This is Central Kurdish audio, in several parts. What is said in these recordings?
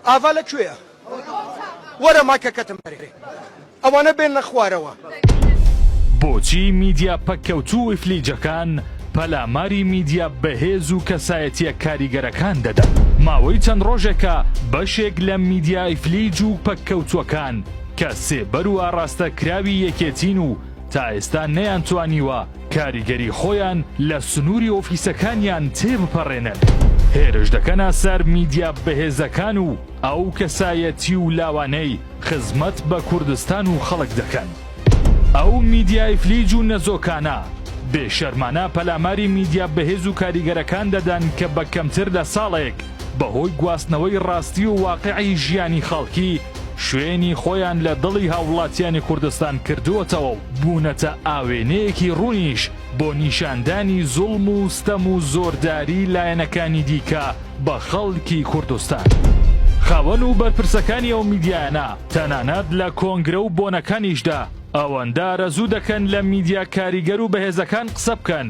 ئاڤا لە کوێیە وەرە مایکەکەتم بەرێ ئەوانە بێنە خوارەوە. بۆچی میدیا پەککەوتوو و ئیفلیجەکان پەلاماری میدیا بەهێز و کەسایەتییە کاریگەرەکان دەدەن؟ ماوەی چەند ڕۆژێکە بەشێک لە میدیا ئیفلیج و پەککەوتووەکان کە سێبەر و ئاڕاستەکراوی یەکێتین و تا ئێستا نەیانتوانیوە کاریگەری خۆیان لە سنووری ئۆفیسەکانیان تێبپەڕێنن، هێرش دەکەنە سەر میدیا بەهێزەکان و ئەو کەسایەتی و لاوانەی خزمەت بە کوردستان و خەڵک دەکەن. ئەو میدیا ئیفلیج و نەزۆکانە بێ شەرمانە پەلاماری میدیا بەهێز و کاریگەرەکان دەدەن کە بە کەمتر لە ساڵێک بەهۆی گواستنەوەی ڕاستی و واقعی ژیانی خەڵکی شوێنی خۆیان لە دڵی هاووڵاتیانی کوردستان کردووەتەوە و بوونەتە ئاوێنەیەکی ڕوونیش بۆ نیشاندانی زوڵم و ستەم و زۆرداری لایەنەکانی دیکە بە خەڵکی کوردستان. خاوەن و بەرپرسەکانی ئەو میدیایانە تەنانەت لە کۆنگرە و بۆنەکانیشدا ئەوەندە ئارەزوو دەکەن لە میدیا کاریگەر و بەهێزەکان قسە بکەن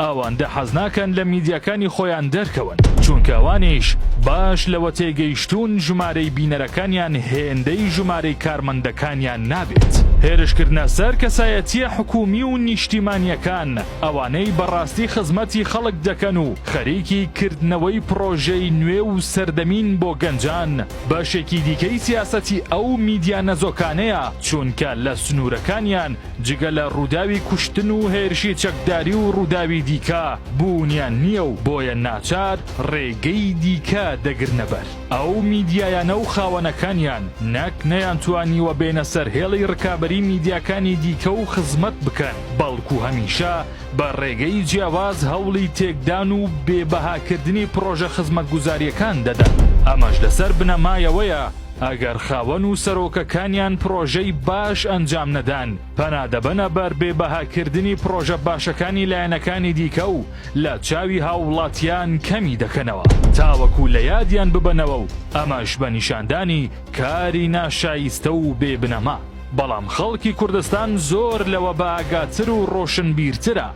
ئەوەندە حەز ناکەن لە میدیاکانی خۆیان دەرکەون، چونکە ئەوانیش باش لەوە تێگەیشتوون ژمارەی بینەرەکانیان هێندەی ژمارەی کارمەندەکانیان نابێت. هێرشکردنە سەر کەسایەتییە حکوومی و نیشتیمانییەکان، ئەوانەی بەڕاستی خزمەتی خەڵک دەکەن و خەریکی کردنەوەی پڕۆژەی نوێ و سەردەمین بۆ گەنجان، بەشێکی دیکەی سیاسەتی ئەو میدیا نەزۆکانەیە، چونکە لە سنوورەکانیان جگە لە ڕووداوی کوشتن و هێرشی چەکداری و ڕووداوی دیکە بوونیان نییە و بۆیە ناچار ڕێگەی دیکە دەگرنەبەر ئەو میدیایانە و خاوەنەکانیان نەک نەیانتوانیوە بێنە سەر هێڵی ڕکابەری میدیاکانی دیکە و خزمەت بکەن بەڵکو هەمیشە بە ڕێگەی جیاواز هەوڵی تێکدان و بێ بەهاکردنی پڕۆژە خزمەتگوزارییەکان دەدەن ئەمەش لەسەر بنەمایەوەیە ئەگەر خاوەن و سەرۆکەکانیان پڕۆژەی باش ئەنجام نەدەن، پەنا دەبەنە بەر بێ بەهاکردنی پڕۆژە باشەکانی لایەنەکانی دیکە و لە چاوی هاووڵاتیان کەمی دەکەنەوە، تاوەکو لە یادیان ببەنەوە و ئەمەش بە نیشاندانی کاری ناشایستە و بێ بنەما. بەڵام خەڵکی کوردستان زۆر لەوە بە ئاگاتر و ڕۆشنبیرترە.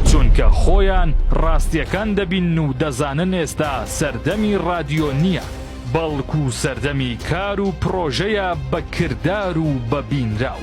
چونکە خۆیان ڕاستیەکان دەبینن و دەزانن ئێستا سەردەمی ڕادیۆ نیە بەڵکو سەردەمی کار و پڕۆژەیە بە کردار و بە بینراو.